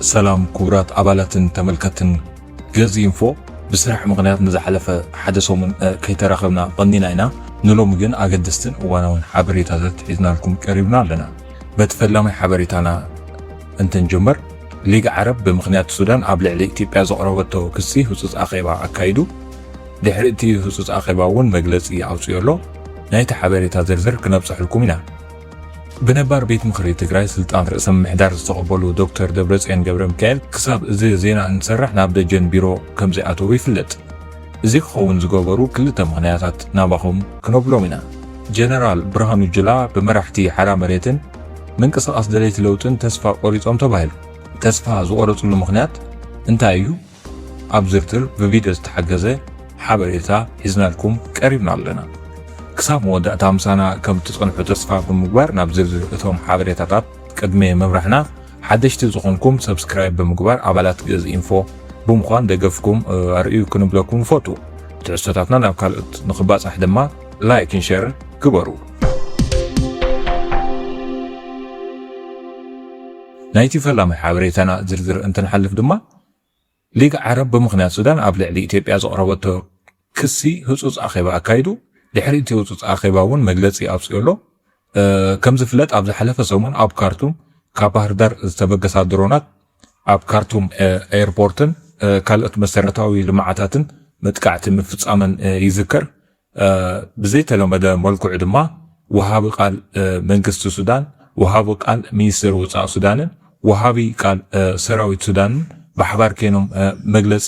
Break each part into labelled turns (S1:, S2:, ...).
S1: ሰላም ክቡራት ኣባላትን ተመልከትን ገዝ ኢንፎ ብስራሕ ምክንያት ንዝሓለፈ ሓደ ሰሙን ከይተራኸብና ቀኒና ኢና ንሎሚ ግን ኣገደስትን እዋናውን ሓበሬታታት ሒዝናልኩም ቀሪብና ኣለና በቲ ፈላማይ ሓበሬታና እንትንጅምር፣ ሊግ ዓረብ ብምኽንያት ሱዳን ኣብ ልዕሊ ኢትዮጵያ ዘቕረበቶ ክሲ ህጹጽ ኣኼባ ኣካይዱ። ድሕሪ እቲ ህጹጽ ኣኼባ እውን መግለጺ ኣውጺኡ ኣሎ። ናይቲ ሓበሬታ ዝርዝር ክነብጸሐልኩም ኢና። ብነባር ቤት ምኽሪ ትግራይ ስልጣን ርእሰ ምምሕዳር ዝተቐበሉ ዶክተር ደብረጽዮን ገብረሚካኤል ክሳብ እዚ ዜና እንሰርሕ ናብ ደጀን ቢሮ ከምዘይኣተዉ ይፍለጥ። እዚ ክኸውን ዝገበሩ ክልተ ምኽንያታት ናባኹም ክነብሎም ኢና። ጀነራል ብርሃኑ ጁላ ብመራሕቲ ሓራ መሬትን ምንቅስቓስ ደለይቲ ለውጥን ተስፋ ቆሪጾም ተባሂሉ። ተስፋ ዝቖረጽሉ ምኽንያት እንታይ እዩ? ኣብ ዝርዝር ብቪድዮ ዝተሓገዘ ሓበሬታ ሒዝናልኩም ቀሪብና ኣለና። ክሳብ መወዳእታ ምሳና ከም እትጸንሑ ተስፋ ብምግባር ናብ ዝርዝር እቶም ሓበሬታታት ቅድሚ ምብራህና ሓደሽቲ ዝኾንኩም ሰብስክራይብ ብምግባር ኣባላት ግእዝ ኢንፎ ብምዃን ደገፍኩም ኣርእዩ ክንብለኩም ንፈቱ። ትሕዝቶታትና ናብ ካልኦት ንኽባጻሕ ድማ ላይክን ሸርን ግበሩ። ናይቲ ፈላማይ ሓበሬታና ዝርዝር እንትንሓልፍ ድማ ሊግ ዓረብ ብምኽንያት ሱዳን ኣብ ልዕሊ ኢትዮጵያ ዘቕረበቶ ክሲ ህፁፅ ኣኼባ ኣካይዱ ድሕሪ እቲ ህፁፅ ኣኼባ እውን መግለፂ ኣውፅኦ ኣሎ። ከም ዝፍለጥ ኣብ ዝሓለፈ ሰሙን ኣብ ካርቱም ካብ ባህርዳር ዝተበገሳ ድሮናት ኣብ ካርቱም ኤርፖርትን ካልኦት መሰረታዊ ልምዓታትን መጥቃዕቲ ምፍፃመን ይዝከር። ብዘይተለመደ መልክዑ ድማ ወሃቢ ቃል መንግስቲ ሱዳን፣ ወሃቢ ቃል ሚኒስቴር ወፃኢ ሱዳንን ወሃቢ ቃል ሰራዊት ሱዳንን ብሓባር ከይኖም መግለፂ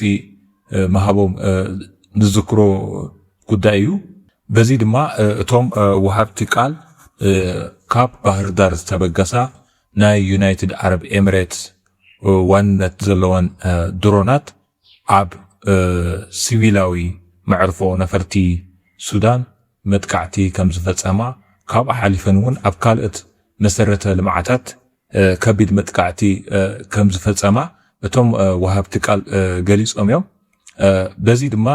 S1: ምሃቦም ንዝክሮ ጉዳይ እዩ። በዚ ድማ እቶም ወሃብቲ ቃል ካብ ባህርዳር ዝተበገሳ ናይ ዩናይትድ ዓረብ ኤምሬትስ ዋንነት ዘለወን ድሮናት ኣብ ሲቪላዊ መዕርፎ ነፈርቲ ሱዳን መጥቃዕቲ ከምዝፈፀማ ካብኡ ሓሊፈን እውን ኣብ ካልኦት መሰረተ ልምዓታት ከቢድ መጥቃዕቲ ከምዝፈፀማ እቶም ወሃብቲ ቃል ገሊፆም እዮም። በዚ ድማ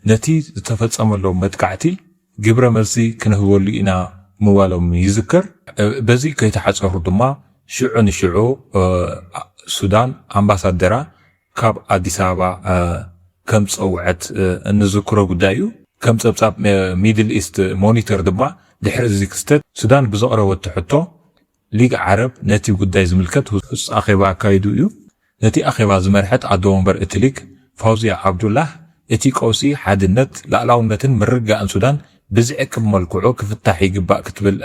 S1: ነቲ ዝተፈፀመሎም መጥቃዕቲ ግብረ መልሲ ክንህበሉ ኢና ምባሎም ይዝከር። በዚ ከይተሓጸሩ ድማ ሽዑ ንሽዑ ሱዳን ኣምባሳደራ ካብ ኣዲስ ኣበባ ከም ዝጸውዐት እንዝክሮ ጉዳይ እዩ። ከም ጸብጻብ ሚድል ኢስት ሞኒተር ድማ ድሕሪ እዚ ክስተት ሱዳን ብዘቕረበቶ ሕቶ ሊግ ዓረብ ነቲ ጉዳይ ዝምልከት ህጹጽ ኣኼባ ኣካይዱ እዩ። ነቲ ኣኼባ ዝመርሐት ኣዶ ወንበር እቲ ሊግ ፋውዝያ ዓብዱላህ፣ እቲ ቀውሲ ሓድነት፣ ላእላውነትን ምርግጋእን ሱዳን ብዝዕቅብ መልክዑ ክፍታሕ ይግባእ ክትብል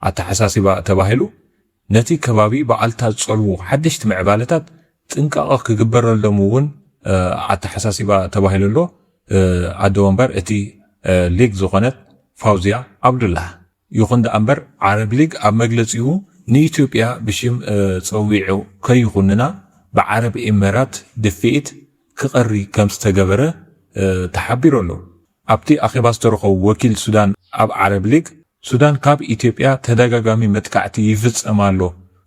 S1: ኣተሓሳሲባ ተባሂሉ ነቲ ከባቢ ብኣልታ ዝጸልዉ ሓደሽቲ ምዕባለታት ጥንቃቐ ክግበረሎም እውን ኣተሓሳሲባ ተባሂሉ'ሎ። ኣደ ወንበር እቲ ሊግ ዝኾነት ፋውዝያ ዓብዱላህ፣ ይኹን ደኣ እምበር ዓረብ ሊግ ኣብ መግለጺኡ ንኢትዮጵያ ብሽም ጸዊዑ ከይኹንና ብዓረብ ኤመራት ድፍኢት ክቐሪ ከምዝተገበረ ተሓቢሩ ኣሎ። ኣብቲ ኣኼባ ዝተረኸቡ ወኪል ሱዳን ኣብ ዓረብ ሊግ፣ ሱዳን ካብ ኢትዮጵያ ተደጋጋሚ መጥቃዕቲ ይፍጸም ኣሎ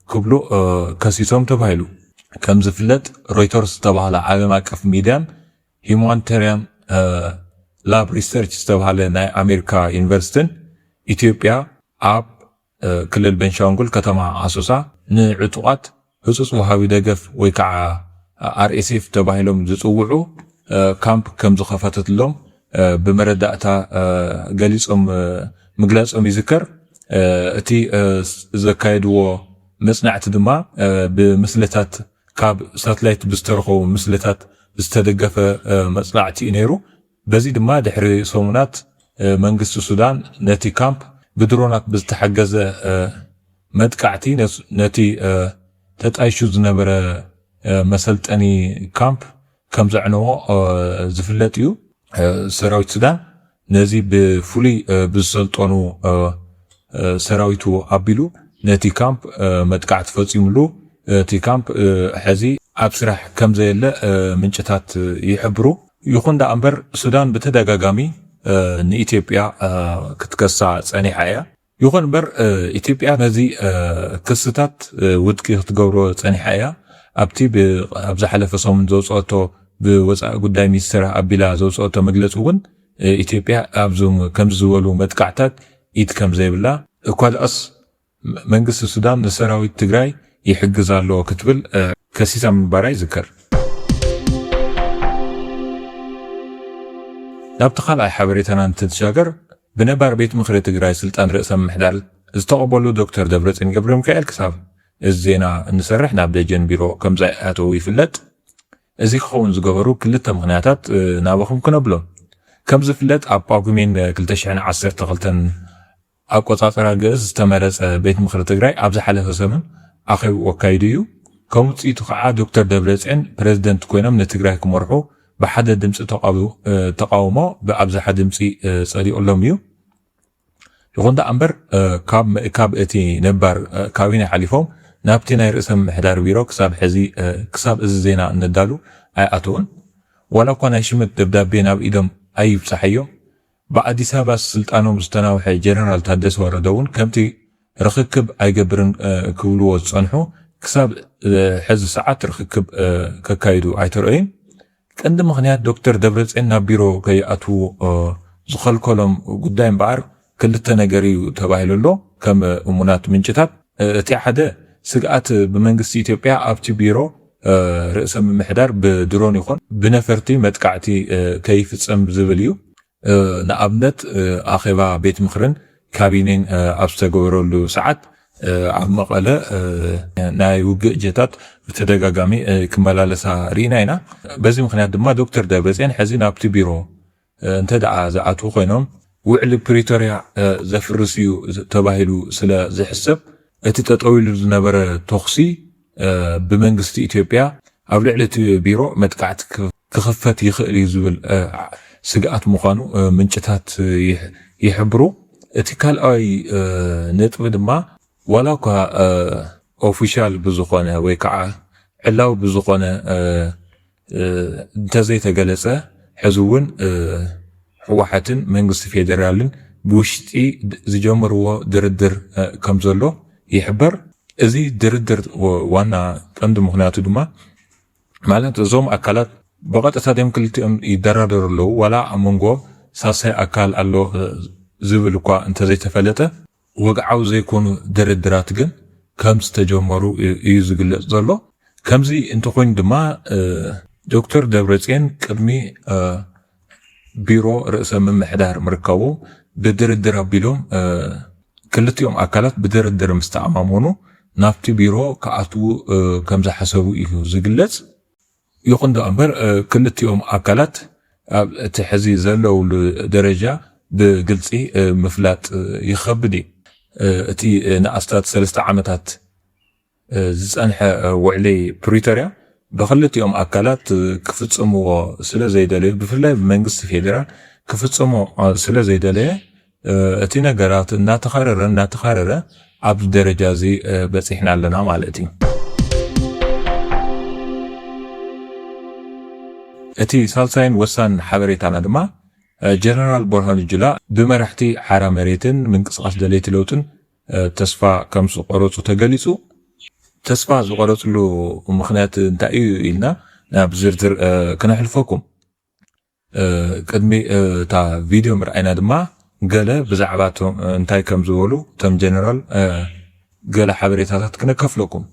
S1: ክብሉ ከሲሶም ተባሂሉ። ከምዝፍለጥ ሮይተርስ ዝተባህላ ዓለም ኣቀፍ ሚድያን ሂማንተርያም ላብ ሪሰርች ዝተብሃለ ናይ ኣሜሪካ ዩኒቨርሲትን ኢትዮጵያ ኣብ ክልል በንሻንጉል ከተማ ኣሶሳ ንዕጡቓት ህፁፅ ወሃቢ ደገፍ ወይ ከዓ RSF ተባሂሎም ዝፅውዑ ካምፕ ከምዝኸፈተትሎም ብመረዳእታ ገሊፆም ምግላፆም ይዝከር። እቲ ዘካየድዎ መፅናዕቲ ድማ ብምስልታት ካብ ሳትላይት ብዝተረኸቡ ምስልታት ዝተደገፈ መጽናዕቲ እዩ ነይሩ። በዚ ድማ ድሕሪ ሰሙናት መንግስቲ ሱዳን ነቲ ካምፕ ብድሮናት ብዝተሓገዘ መጥቃዕቲ ነቲ ተጣይሹ ዝነበረ መሰልጠኒ ካምፕ ከም ዘዕነዎ ዝፍለጥ እዩ። ሰራዊት ሱዳን ነዚ ብፍሉይ ብዝሰልጠኑ ሰራዊቱ ኣቢሉ ነቲ ካምፕ መጥቃዕቲ ፈጺሙሉ። እቲ ካምፕ ሕዚ ኣብ ስራሕ ከም ዘየለ ምንጭታት ይሕብሩ። ይኹን ደኣ እምበር ሱዳን ብተደጋጋሚ ንኢትዮጵያ ክትከሳ ጸኒሓ እያ። ይኹን እምበር ኢትዮጵያ ነዚ ክስታት ውድቂ ክትገብሮ ጸኒሓ እያ። ኣብቲ ኣብ ዝሓለፈ ሰሙን ዘውጽኦቶ ብወጻኢ ጉዳይ ሚኒስተራ ኣቢላ ዘውጽኦቶ መግለጺ እውን ኢትዮጵያ ኣብ ከምዚ ዝበሉ መጥቃዕታት ኢድ ከም ዘይብላ፣ እኳ ድኣስ መንግስቲ ሱዳን ንሰራዊት ትግራይ ይሕግዝ ኣሎ ክትብል ከሲሳ ምንባራ ይዝከር። ናብቲ ካልኣይ ሓበሬታና እንትንሻገር ብነባር ቤት ምኽሪ ትግራይ ስልጣን ርእሰ ምምሕዳር ዝተቐበሉ ዶክተር ደብረፅዮን ገብረሚካኤል ክሳብ እዚ ዜና እንሰርሕ ናብ ደጀን ቢሮ ከምዘይኣተዉ ይፍለጥ። እዚ ክኸውን ዝገበሩ ክልተ ምኽንያታት ናባኹም ክነብሎም። ከምዝፍለጥ ኣብ ጳጉሜን ክልተ ሽሕን ዓሰርተ ክልተን ኣቆፃፅራ ግእዝ ዝተመረፀ ቤት ምኽሪ ትግራይ ኣብ ዝሓለፈ ሰሙን ኣኼብኡ ኣካይዱ እዩ። ከም ውፅኢቱ ከዓ ዶክተር ደብረፅዮን ፕረዚደንት ኮይኖም ንትግራይ ክመርሑ ብሓደ ድምፂ ተቓውኡ ተቓውሞ ብኣብዝሓ ድምፂ ፀዲቑሎም እዩ። ይኹን ደኣ እምበር ካብ ምእካብ እቲ ነባር ካቢነ ሓሊፎም ናብቲ ናይ ርእሰ ምምሕዳር ቢሮ ክሳብ ሕዚ ክሳብ እዚ ዜና እነዳሉ ኣይኣተዉን። ዋላ እኳ ናይ ሽመት ደብዳቤ ናብ ኢዶም ኣይብፀሓዮ ብኣዲስ ኣበባ ስልጣኖም ዝተናውሐ ጀነራል ታደሰ ወረደ እውን ከምቲ ርኽክብ ኣይገብርን ክብልዎ ዝፀንሑ ክሳብ ሕዚ ሰዓት ርኽክብ ከካይዱ ኣይተረእዩን። ቀንዲ ምኽንያት ዶክተር ደብረፅዮን ናብ ቢሮ ከይኣትዉ ዝኸልከሎም ጉዳይ እምበኣር ክልተ ነገር እዩ ተባሂሉ ኣሎ ከም እሙናት ምንጭታት። እቲ ሓደ ስግኣት ብመንግስቲ ኢትዮጵያ ኣብቲ ቢሮ ርእሰ ምምሕዳር ብድሮን ይኹን ብነፈርቲ መጥቃዕቲ ከይፍፀም ዝብል እዩ። ንኣብነት ኣኼባ ቤት ምኽርን ካቢኔን ኣብ ዝተገበረሉ ሰዓት ኣብ መቐለ ናይ ውግእ ጀታት ብተደጋጋሚ ክመላለሳ ርኢና ኢና። በዚ ምኽንያት ድማ ዶክተር ደብረፅዮን ሕዚ ናብቲ ቢሮ እንተድኣ ዝኣትዉ ኮይኖም ውዕሊ ፕሪቶርያ ዘፍርስ እዩ ተባሂሉ ስለ ዝሕሰብ እቲ ጠጠው ኢሉ ዝነበረ ተኹሲ ብመንግስቲ ኢትዮጵያ ኣብ ልዕሊ እቲ ቢሮ መጥቃዕቲ ክኽፈት ይኽእል እዩ ዝብል ስግኣት ምዃኑ ምንጭታት ይሕብሩ። እቲ ካልኣይ ነጥቢ ድማ ዋላ እኳ ኦፊሻል ብዝኾነ ወይ ከዓ ዕላዊ ብዝኾነ እንተዘይተገለፀ ሕዚ እውን ህወሓትን መንግስቲ ፌዴራልን ብውሽጢ ዝጀመርዎ ድርድር ከምዘሎ ይሕበር። እዚ ድርድር ዋና ቀንዲ ምክንያቱ ድማ ማለት እዞም ኣካላት ብቐጥታ ድም ክልቲኦም ይደራደሩ ኣለዉ ዋላ ኣብ መንጎ ሳልሳይ ኣካል ኣሎ ዝብል እኳ እንተዘይተፈለጠ ወግዓዊ ዘይኮኑ ድርድራት ግን ከም ዝተጀመሩ እዩ ዝግለጽ ዘሎ። ከምዚ እንተኾይኑ ድማ ዶክተር ደብረጽዮን ቅድሚ ቢሮ ርእሰ ምምሕዳር ምርካቦም ብድርድር ኣቢሎም ክልቲኦም ኣካላት ብድርድር ምስ ተኣማመኑ ናብቲ ቢሮ ክኣትዉ ከም ዝሓሰቡ እዩ ዝግለጽ። ይኹን ደኣ እምበር ክልቲኦም ኣካላት ኣብ እቲ ሕዚ ዘለውሉ ደረጃ ብግልፂ ምፍላጥ ይኸብድ እዩ። እቲ ንኣስታት ሰለስተ ዓመታት ዝፀንሐ ውዕሊ ፕሪቶርያ ብኽልቲኦም ኣካላት ክፍፅምዎ ስለዘይደለዩ ብፍላይ ብመንግስቲ ፌዴራል ክፍፅሞ ስለዘይደለየ እቲ ነገራት እናተኻረረ እናተኻረረ ኣብዚ ደረጃ እዚ በፂሕና ኣለና ማለት እዩ። እቲ ሳልሳይን ወሳንን ሓበሬታና ድማ ጀነራል ቦርሃኑ ጁላ ብመራሕቲ ሓራ መሬትን ምንቅስቓስ ደለይቲ ለውጥን ተስፋ ከም ዝቆረፁ ተገሊፁ። ተስፋ ዝቆረፅሉ ምክንያት እንታይ እዩ ኢልና ናብ ዝርዝር ክነሕልፈኩም። ቅድሚ እታ ቪድዮ ምርኣይና ድማ ገለ ብዛዕባ እቶም እንታይ ከም ዝበሉ እቶም ጀነራል ገለ ሓበሬታታት ክነከፍለኩም።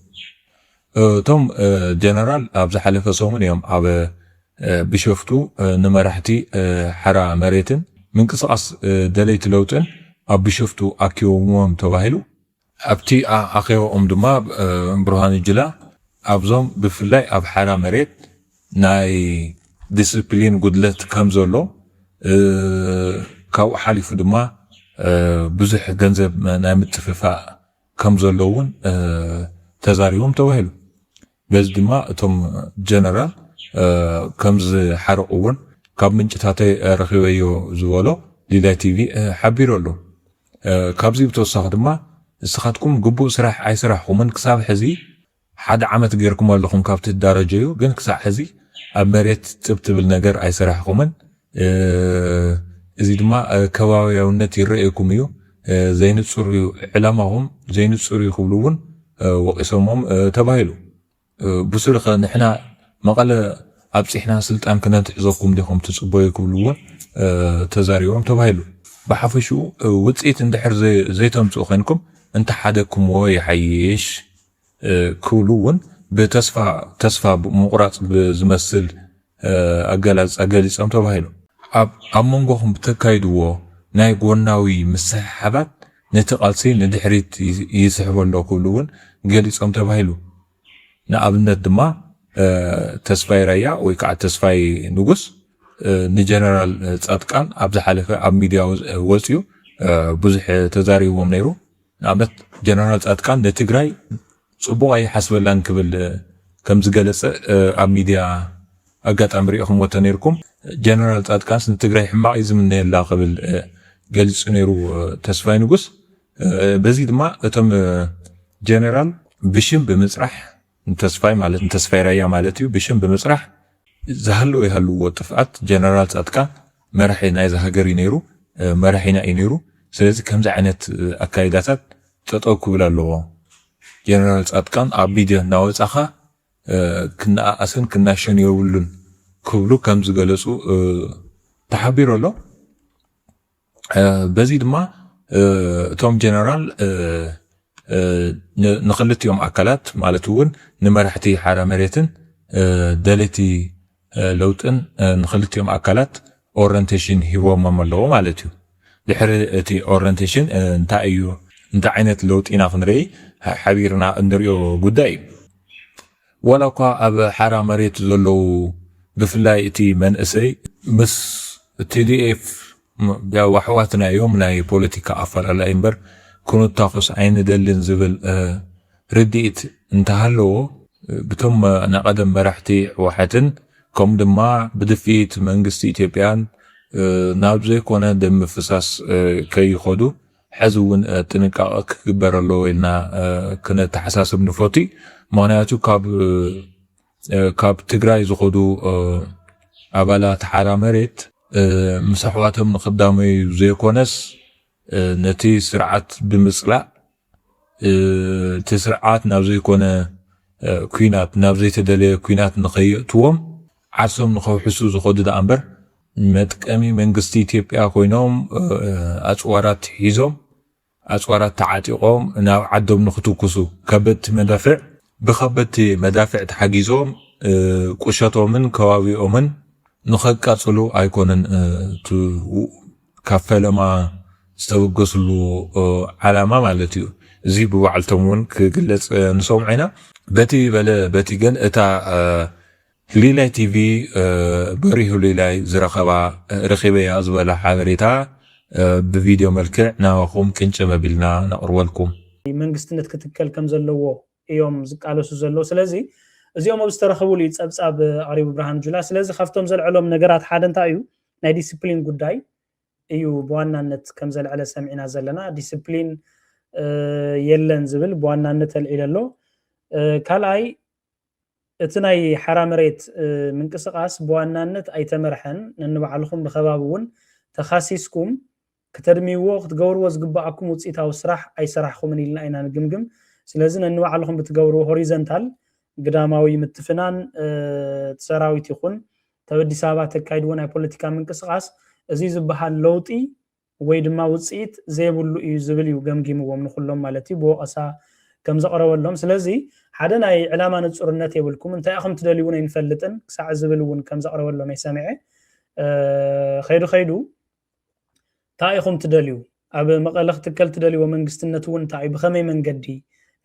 S1: እቶም ጀነራል ኣብ ዝሓለፈ ሰሙን እዮም ኣብ ቢሾፍቱ ንመራሕቲ ሓራ መሬትን ምንቅስቓስ ደለይቲ ለውጥን ኣብ ቢሾፍቱ ኣኪቦምዎም ተባሂሉ። ኣብቲ ኣኼባኦም ድማ ብርሃኑ ጁላ ኣብዞም ብፍላይ ኣብ ሓራ መሬት ናይ ዲስፕሊን ጉድለት ከምዘሎ ካብኡ ሓሊፉ ድማ ብዙሕ ገንዘብ ናይ ምጥፍፋእ ከምዘሎ እውን ተዛሪቦም ተባሂሉ። በዚ ድማ እቶም ጀነራል ከምዝሓርቕዎን ካብ ምንጭታተይ ረኺበዮ ዝበሎ ሊላይ ቲቪ ሓቢሩ ኣሎ። ካብዚ ብተወሳኺ ድማ ንስኻትኩም ግቡእ ስራሕ ኣይሰራሕኹምን ክሳብ ሕዚ ሓደ ዓመት ጌርኩም ኣለኹም ካብ ትዳረጀዩ ግን ክሳዕ ሕዚ ኣብ መሬት ጥብ ትብል ነገር ኣይሰራሕኹምን፣ እዚ ድማ ከባብያውነት ይረኣየኩም እዩ፣ ዘይንጹር እዩ ዕላማኹም፣ ዘይንጹር እዩ ክብሉ እውን ወቒሶሞም ተባሂሉ። ብሱሩኸ ንሕና መቐለ ኣብጺሕና ስልጣን ክነትሕዘኩም ዲኹም ትጽበዩ ክብሉ እውን ተዛሪቦም ተባሂሉ። ብሓፈሽኡ ውጽኢት እንድሕር ዘይተምጽኡ ኮይንኩም እንተሓደግኩምዎ ይሓይሽ። ክብሉ እውን ብተስፋ ተስፋ ምቑራጽ ብዝመስል ኣገላልጻ ገሊጾም ተባሂሉ። ኣብ ኣብ መንጎኹም ብተካይድዎ ናይ ጎናዊ ምስሕሓባት ነቲ ቃልሲ ንድሕሪት ይስሕቦ ኣሎ ክብሉ እውን ገሊጾም ተባሂሉ። ንኣብነት ድማ ተስፋይ ራያ ወይ ከዓ ተስፋይ ንጉስ ንጀነራል ፃድቃን ኣብ ዝሓለፈ ኣብ ሚድያ ወፅዩ ብዙሕ ተዛሪብዎም ነይሩ። ንኣብነት ጀነራል ፃድቃን ንትግራይ ፅቡቕ ኣይሓስበላን ክብል ከምዝገለፀ ኣብ ሚድያ ኣጋጣሚ ሪኢኹምዎ ተነይርኩም። ጀነራል ፃድቃንስ ንትግራይ ሕማቕ እዩ ዝምነየላ ክብል ገሊፁ ነይሩ ተስፋይ ንጉስ። በዚ ድማ እቶም ጀነራል ብሽም ብምፅራሕ፣ ንተስፋይ ማለት ንተስፋይ ራያ ማለት እዩ ብሽም ብምፅራሕ ዝሃለወ ይሃልዎ ጥፍኣት ጀነራል ፃድቃን መራሒ ናይዛ ሃገር እዩ ነይሩ መራሒና እዩ ነይሩ ስለዚ ከምዚ ዓይነት ኣካይዳታት ጠጠው ክብል ኣለዎ ጀነራል ፃድቃን ኣብ ሚድያ እናወፃኻ ክነኣኣስን ክናሸን የብሉን ክብሉ ከምዝገለፁ ተሓቢሩ ኣሎ። በዚ ድማ እቶም ጀነራል ንክልቲኦም ኣካላት ማለት እውን ንመራሕቲ ሓራ መሬትን ደለይቲ ለውጥን ንክልቲኦም ኣካላት ኦረንቴሽን ሂቦሞም ኣለዎ ማለት እዩ ድሕሪ እቲ ኦረንቴሽን እንታይ እዩ እንታይ ዓይነት ለውጢ ኢና ክንርኢ ሓቢርና እንሪኦ ጉዳይ እዩ ዋላኳ ኣብ ሓራ መሬት ዘለዉ ብፍላይ እቲ መንእሰይ ምስ tdf ያው ኣሕዋትና እዮም ናይ ፖለቲካ ኣፈላላይ እምበር ክንታኮስ ኣይንደልን ዝብል ርድኢት እንተሃለዎ ብቶም ናይ ቀደም መራሕቲ ሕወሓትን ከምኡ ድማ ብድፍኢት መንግስቲ ኢትዮጵያን ናብ ዘይኮነ ደም ምፍሳስ ከይኸዱ ሐዚ እውን ጥንቃቐ ክግበር ኣለዎ ኢልና ክነተሓሳስብ ንፎቲ ምክንያቱ ካብ ትግራይ ዝኸዱ ኣባላት ሓራ መሬት ምስ ኣሕዋቶም ንክዳመዩ ዘይኮነስ ነቲ ስርዓት ብምፅላእ እቲ ስርዓት ናብ ዘይኮነ ኩናት ናብ ዘይተደለየ ኩናት ንከየእትዎም ዓርሶም ንኸውሕሱ ዝኸዱ ደኣምበር መጥቀሚ መንግስቲ ኢትዮጵያ ኮይኖም ኣጽዋራት ሒዞም ኣጽዋራት ተዓጢቖም ናብ ዓዶም ንኽትኩሱ ከበድቲ መዳፍዕ ብከበድቲ መዳፍዕ ተሓጊዞም ቁሸቶምን ከባቢኦምን ንኸቃጽሉ ኣይኮነን እቲ ካብ ፈለማ ዝተበገስሉ ዓላማ ማለት እዩ። እዚ ብባዕልቶም እውን ክግለጽ ንሰምዖ ኢና። በቲ በለ በቲ ግን እታ ሊላይ ቲቪ በሪሁ ሊላይ ዝረኸባ ረኺበያ ዝበላ ሓበሬታ ብቪድዮ መልክዕ ናባኹም ቅንጭብ ኣቢልና ነቕርበልኩም። መንግስትነት
S2: ክትከል ከም ዘለዎ እዮም ዝቃለሱ ዘለዉ። ስለዚ እዚኦም ኣብ ዝተረኸቡሉ እዩ ጸብጻብ ኣቕሪቡ ብርሃኑ ጁላ። ስለዚ ካብቶም ዘልዐሎም ነገራት ሓደ እንታይ እዩ? ናይ ዲስፕሊን ጉዳይ እዩ ብዋናነት ከም ዘልዐለ ሰሚዕና ዘለና። ዲስፕሊን የለን ዝብል ብዋናነት ኣልዒሉ ኣሎ። ካልኣይ እቲ ናይ ሓራ መሬት ምንቅስቃስ ብዋናነት ኣይተመርሐን፣ ነንባዕልኹም ብከባቢ እውን ተኻሲስኩም ክተድምይዎ ክትገብርዎ ዝግበኣኩም ውፅኢታዊ ስራሕ ኣይሰራሕኹምን ኢልና ኢና ንግምግም። ስለዚ ነንባዕልኹም ብትገብርዎ ሆሪዘንታል ግዳማዊ ምትፍናን እቲ ሰራዊት ይኹን ተበዲስ ኣበባ ተካይድዎ ናይ ፖለቲካ ምንቅስቃስ እዙይ ዝበሃል ለውጢ ወይ ድማ ውጽኢት ዘይብሉ እዩ ዝብል እዩ ገምጊምዎም ንኹሎም ማለት እዩ ብወቐሳ ከም ዘቕረበሎም ስለዚ ሓደ ናይ ዕላማ ንጹርነት የብልኩም እንታይ ኢኹም ትደልዩ እውን ኣይንፈልጥን ክሳዕ ዝብል እውን ከም ዘቕረበሎም እየ ሰሚዐ ከይዱ ከይዱ እንታይ ኢኹም ትደልዩ ኣብ መቐለ ክትከል ትደልይዎ መንግስትነት እውን እንታይ እዩ ብኸመይ መንገዲ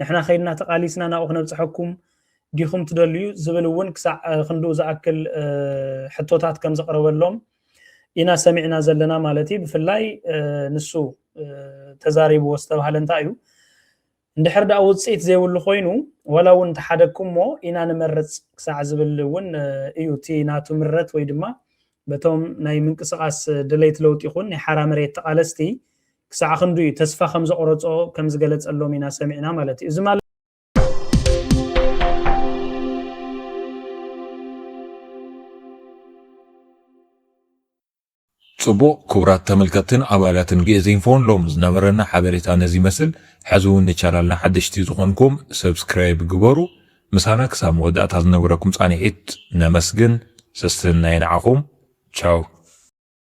S2: ንሕና ከይድና ተቓሊስና ናብኡ ክነብፅሐኩም ዲኹም ትደልዩ ዝብል እውን ክሳዕ ክንድኡ ዝኣክል ሕቶታት ከም ዘቕረበሎም ኢና ሰሚዕና ዘለና ማለት እዩ ብፍላይ ንሱ ተዛሪብዎ ዝተባሃለ እንታይ እዩ እንድሕር ደኣ ውፅኢት ዘይብሉ ኮይኑ ዋላ እውን እንተሓደግኩሞ ኢና ንመርፅ ክሳዕ ዝብል እውን እዩ እቲ ናቱ ምረት ወይ ድማ በቶም ናይ ምንቅስቃስ ድሌት ለውጢ ይኹን ናይ ሓራ መሬት ተቃለስቲ ክሳዕ ክንዱ እዩ ተስፋ ከም ዘቆረፆ ከም ዝገለፀሎም ኢና ሰሚዕና ማለት እዩ እዚ ማለት
S1: ጽቡቕ ክቡራት ተመልከትትን ኣባላትን ግእዝ ኢንፎን ሎሚ ዝነበረና ሓበሬታ ነዚ ይመስል። ሕዚ እውን ንቻናልና ሓደሽቲ ዝኾንኩም ሰብስክራይብ ግበሩ። ምሳና ክሳብ መወዳእታ ዝነበረኩም ጻንሒት ነመስግን። ሰስንናይ ንዓኹም። ቻው